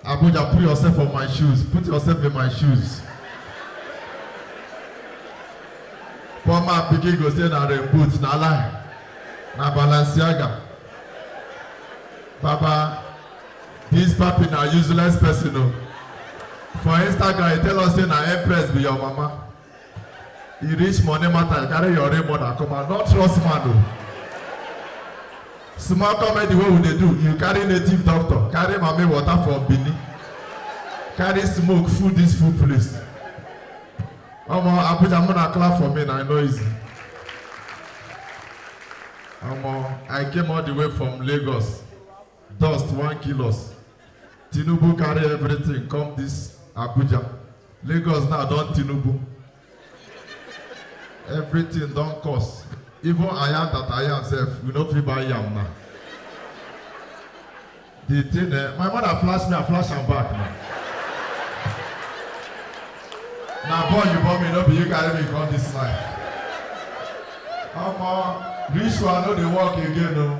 Abuja, put yourself on my shoes. Put yourself in my shoes. Poor man pikin go say na rain boot, na lie. Na Balenciaga. Baba, this papi na useless person o. For Instagram, he tell us say na Empress be your mama. e reach money matter you carry your real mother come out no trust man o small comedy wey we dey do you carry native doctor carry mami water from benin carry smoke full this full place omo abuja muna clap for me na e no easy omo i came all the way from lagos Dust wan kill us. Tinubu carry everything come this Abuja. Lagos now don Tinubu. Everything don cost. Even ayam that ayam sef, we no fit buy yam now. The thing eh, my mother flash me, I flash am back now. Na boy you born me, no be you carry me come this life. Omo, this one no dey work again o.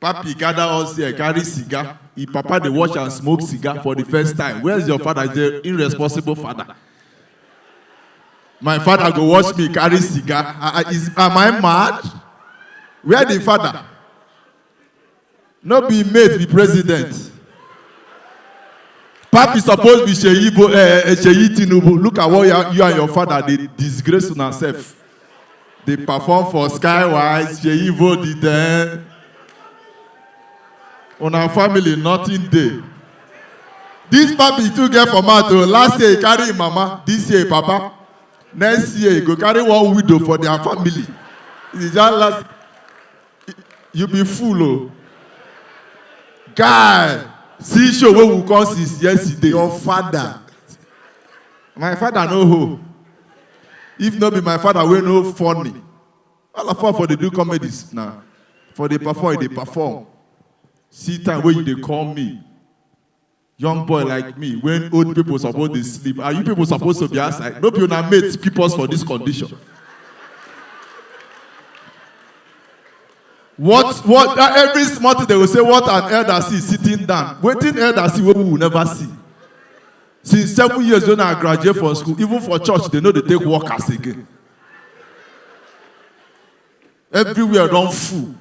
Papi gather us here, carry cigar. E papa dey watch and smoke cigar for the first time. Where's your father? He's an irresponsible father. My father go watch me carry cigar. I, I, is, am I mad? Where the father? No be mate be president. Papi suppose be Seyi Bo- eh, eh, Seyi Tinubu. Look at what you, you and your father dey disgrace una sef. dey perform for skywise sheyi vodi den una family nothing dey this papi too get for mouth o last year he carry him mama this year he papa next year he go carry one widow for their family he just last you be fool o guy see show wey we come since yesterday your father my father no hoe If no be my father wey no funny, all of us for dey do comedies na. For dey perform, you dey perform. See time wey you dey call me. Young boy like me, when old people suppose dey sleep, and you people suppose to be outside. No be una mates keep us for this condition. What what uh, every small thing they will say what an elder see sitting down. Waiting elder see what we will never see. Since seven years when I graduate from school, even for church, they know they take workers again. Everywhere run full.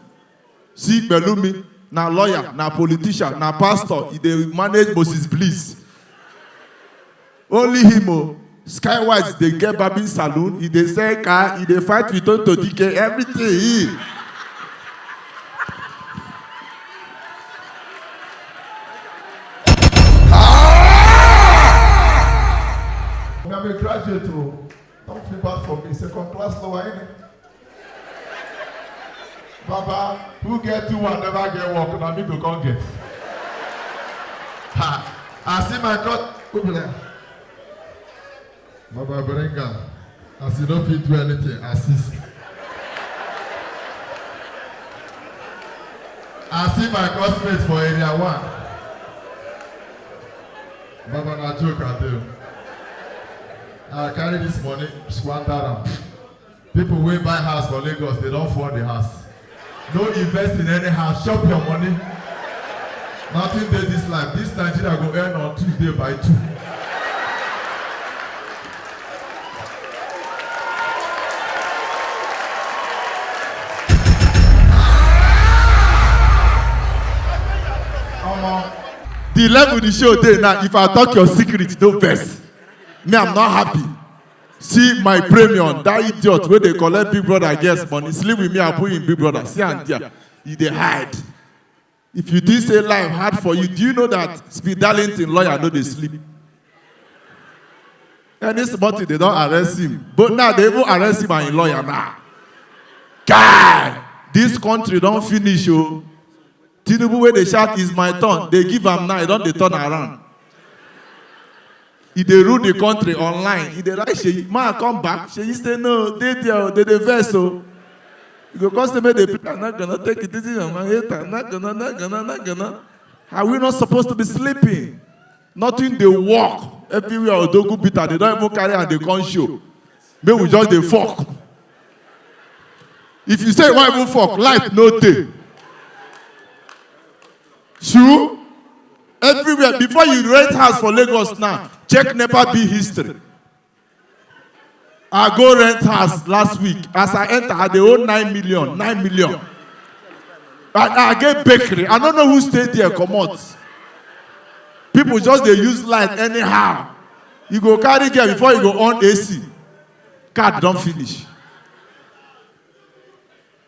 See Belumi, na lawyer, na politician, na pastor, he dey manage Moses Bliss. Only him o. Oh. Skywise dey get barbing saloon, he dey sell car, he dey fight with Tonto Dike, everything. He. I'm a graduate, oh. Don't feel bad for me. Second class lower, innit? Baba, who get two and never get work, na me go come get. Ha! I see my God. Who be like, Baba bring am. As you no fit do anything, assist. I see my classmate for area one. Baba na joke I do. I carry this money, squander am. People wey buy house for Lagos, they don fall the house. No invest in any house, chop your money. Nothing dey this life. This Nigeria go end on Tuesday by two. Omo, The level the show dey now, if I talk your secret, no vex. Me, I'm not happy. See my premium, that idiot wey dey collect big brother girls money, sleep with me and put him big brother, see am there, he dey hide. If you think say life hard for you, do you know that Speed Darlington lawyer no dey sleep? Any small thing they don arrest him, but now they even arrest him and him lawyer now. Guy, this country don finish o. Tinubu wey dey shout is my turn dey give am now e don dey turn around. E dey rule the country online e dey write Seyi ma come back Seyi say no dey there o dey dey vex o. You go come say make dey play na gonna take it easy on my hater na gonna na gonna na gonna are we not supposed to be sleeping. nothing dey work everywhere odogu bitter they don even carry am dey come show make we just dey fok if you say you wan even fok light no dey true everywhere before you rent house for lagos now check nepa bill history I go rent house last week. As I enter, I dey owe nine million, nine million. I, I get bakery. I don't know who stay there, come out. People just they use light anyhow. You go carry care before you go on AC. Card don't finish.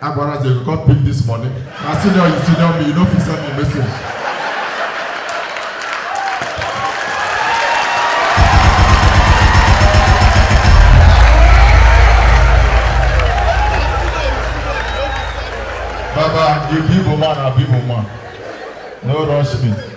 Agbara say you come pick this money. Na senior you senior me, you no fit send me message. Baba, you be woman, I be woman. No rush me.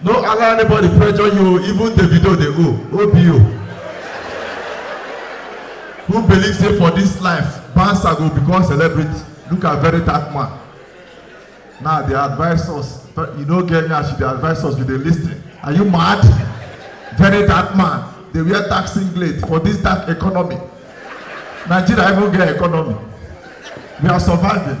No allow anybody pressure you, even Davido dey owe, OBO. Who believe say for this life, Bansa go become celebrity? Look at very dark man. Now they advise us, but you no get nyash, they advise us, we dey lis ten. Are you mad? Very dark man, dey wear dark singlet for this dark economy. Nigeria even get economy. We are surviving.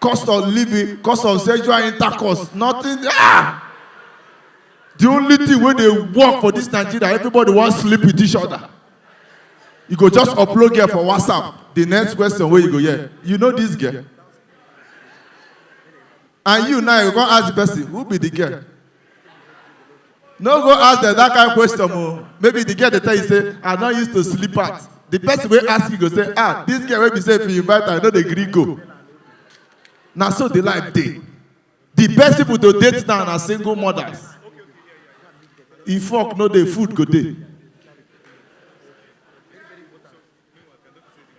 cost of living cost of sexual intercourse nothing ah the only thing wey dey work for this nigeria everybody wan sleep with each other you go just upload girl for whatsapp the next question wey you go hear you know this girl and you now you go come ask the person who be the girl no go ask dem that kind question o maybe the girl dey tell you say i no used to sleep out the person wey ask you go say ah this girl wey be say if you invite her you no dey gree go na so the life dey the best people to date now na single mothers if work no dey food go dey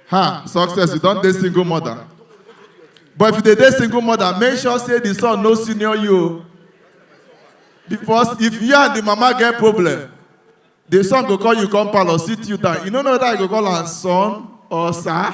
ha success you don dey single mother but if you dey dey single mother make sure say the son no senior you o because if you and the mama get problem the son go call you come parlour sit you down you no know whether you go call am son or sir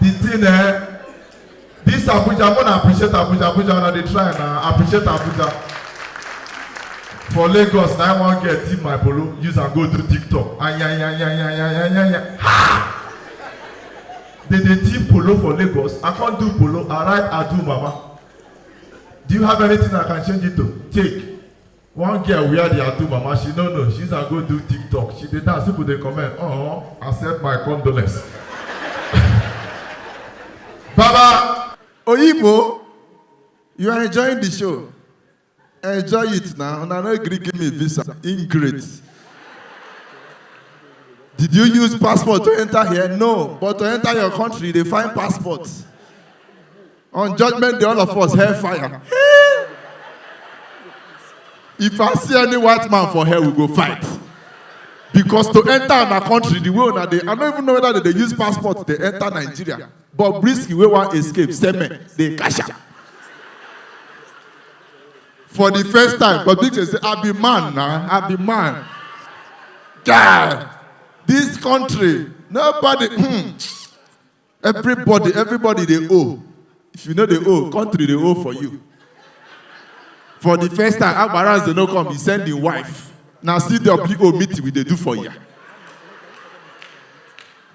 the thing eh this abuja i wanna appreciate abuja abuja una dey try na appreciate abuja for lagos na i wan get tip my polo use am go do tiktok ayayayayayayaya ha they dey tip polo for lagos i come do polo i write adu mama do you have anything i can change it to take One girl wear the Atu mama, she no know, she's a go do TikTok. She dey dance, people dey comment, oh, accept my condolence. Baba! Oyibo, you are enjoying the show. Enjoy it now. Una no gree give me visa. Ingrate. Did you use passport to enter here? No. But to enter your country, they find passport. On judgment day, all of us hell fire. if I see any white man for hell, we go fight. Because to enter our country, the way that they, I don't even know whether they, they use passport, they enter Nigeria. But Brisky, we want escape, same they cash out. For the first time, but Big say, I be man now, I be man. God, this country, nobody, hmm. everybody everybody dey owe if you no dey owe country dey owe for you for the first time agbarans dey no come he send him wife na cwo meeting we dey do for ya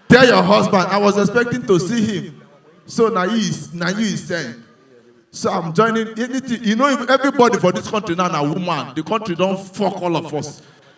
tell your husband i was expecting to see him so na you na you he send so i'm joining anything you know if everybody for this country now na woman the country don fuck all of us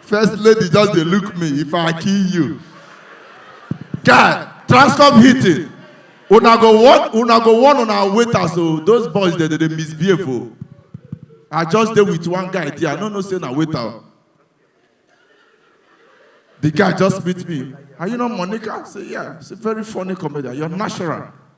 First lady just dey look me if I kill you. Guy, transcom hitting. Una go warn una go warn una waiters o. Oh. Those boys dey dey misbehave o. Oh. I just dey with one guy there. I no know say na waiter. Oh. The guy just meet me. Are you not Monica? I say, yeah. It's a very funny comedian. You're natural.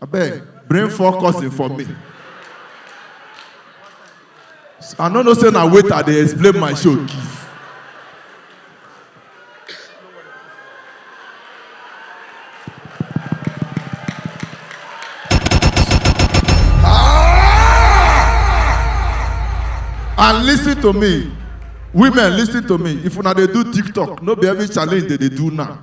Abeg, bring four cousin for me. I no know say na waiter I dey explain my show give. and listen to me women listen to me if una dey do tiktok no be every challenge dey dey do now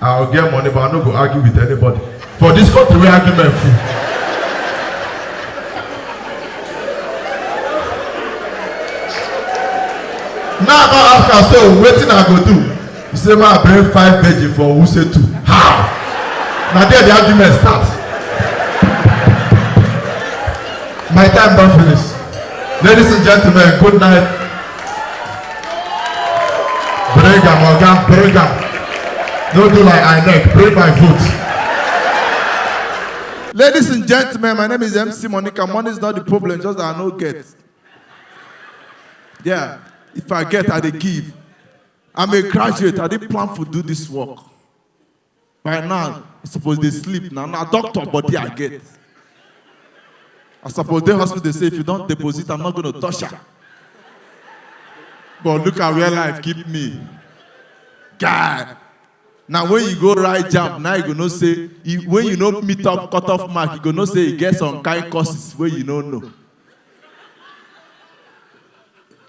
I go get money but I no go argue with anybody. For this country wey argument full. Now I come ask am say wetin I go do? He say make I bring five virgin for Wuse too. How? Na there the argument start. My time don finish. Ladies and gentlemen, good night. Bring am, Oga, bring am. No do like INEC, bring my vote. Ladies and gentlemen, my name is MC Monica. Money is not the problem, just that I no get. Yeah, if I get, I dey give. I'm a graduate. I didn't plan to do this work. By now, I suppose they sleep now. Now, doctor body I get. I suppose the hospital they say if you don't deposit, I'm not going to touch her. But look at where life keep me. God. Now when you go right jump, now you go no say, when you no meet up cut off mark, you go no say you get some kind courses where you no know.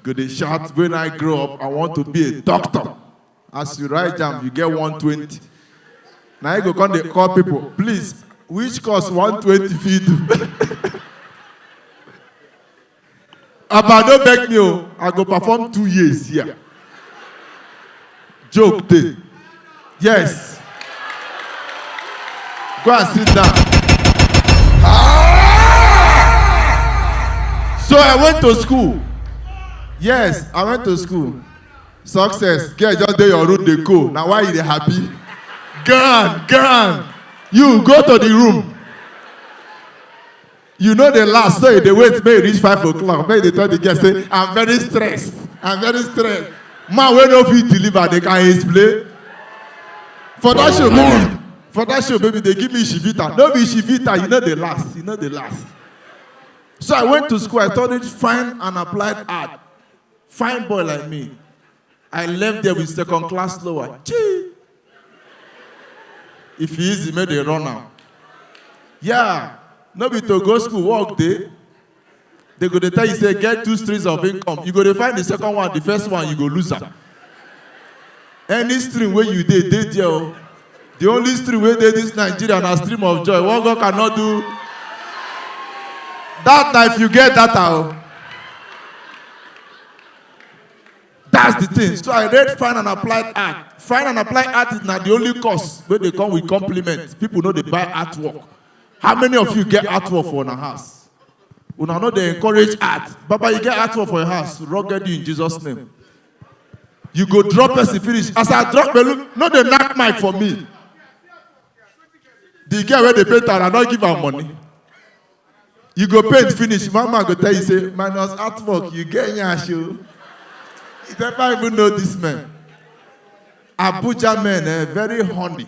Go they shout, when I grow up, I want to be a doctor. as you write jam you get 120 na you go come dey call people please which course 120 fit do aba no beg me o i go perform two years here joke dey yes go and sit down so i went to school yes i went to school success girl just dey your room dey go na why you dey happy gan gan you go to the room you no dey last so you dey wait make e reach five o'clock make you dey tell the girl say i'm very stressed i'm very stressed man wey no fit deliver dey can explain for that show baby for that show baby dey give me shivita no be shivita you no dey last you no dey last so i went to school i studied fine and applied art Fine boy like me. I left there with second class lower. Chee! If he easy, make they run now. Yeah, no be to go school, work day. They go to tell you, say, get two streams of income. You go to find the second one, the first one, you go lose them. Any stream wey you dey, dey there o. The only stream wey dey this Nigeria na stream of joy. What God cannot do. That na if you get data o. That's the thing. So I read fine and applied art. Fine and applied art is not the only course where they come with compliments. People know they buy artwork. How many of you get artwork for your house? Una know they encourage art. Baba, you get artwork for your house. Rugged you in Jesus' name. you go drop person finish as i drop pelu no dey knack mic for me the girl wey dey paint am i no give am money you go paint finish mama go tell you say minus artwork you get yansh o you never even know this man abuja men eh very horny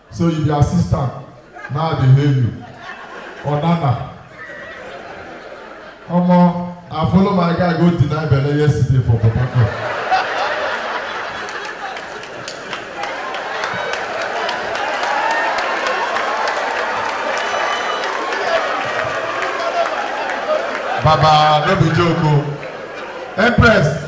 So you be assistant. Now I dey hail you. Onana. Omo, I follow my guy go deny belle yesterday for Port Harcourt. Baba, no be joke o. Empress,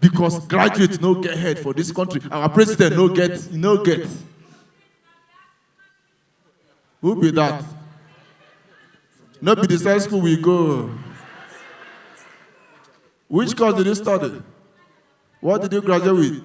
because graduate no get head for this country our president no get e no get who be that no be the same school we go which course did you study what did you graduate with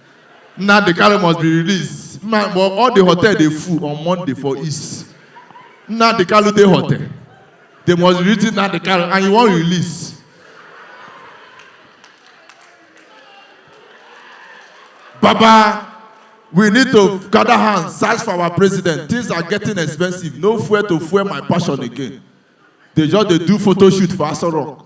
Nnamdi Kanu must be released. Man, but all the hotel dey full on Monday for East. Nnamdi Kanu dey hotel. They must release Nnamdi Kanu and you wan release. Baba, we need to gather hands, search for our president. Things are getting expensive. No fuel to fuel my passion again. They just dey do photo shoot for Aso Rock.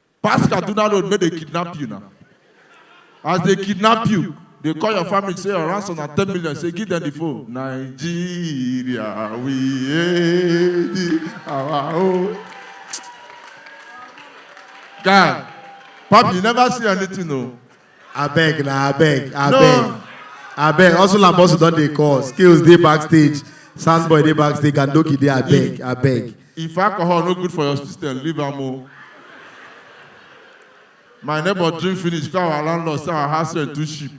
Pass Kaduna road make dem kidnap you na. As they kidnap you, they call your family say your ransom na ten million say give them the phone. Nigeria we hate thee, our own. Guy, Papi you never see anything o. abeg na abeg abeg abeg hustle and bustle don dey call skills dey backstage sound boy dey backstage gandoki dey abeg abeg If alcohol no good for your system, leave am o. My neighbor drink finish, call our landlord say our house rent too cheap.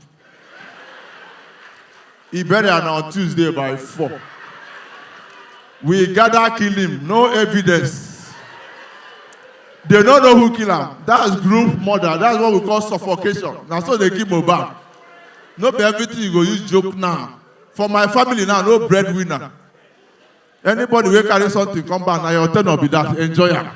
E burial na on Tuesday by four. We gather kill him, no evidence. They no know who kill am. That's group murder. That's what we call suffocation. Na so they kill Mohbad. No be everything you go use joke now. For my family now, no breadwinner. Anybody wey carry something come back, na your tenor be that. Enjoy am.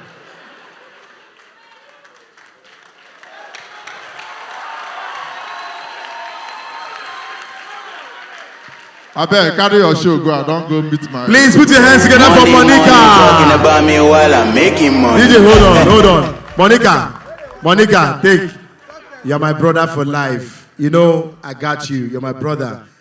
Abeg, carry your show go. I don go meet my. Please put your hands together for Money, money, talking Monica. about me while I'm making money. DJ, hold on, hold on. Monica, Monica, take. You're my brother for life. You know, I got you. You're my brother.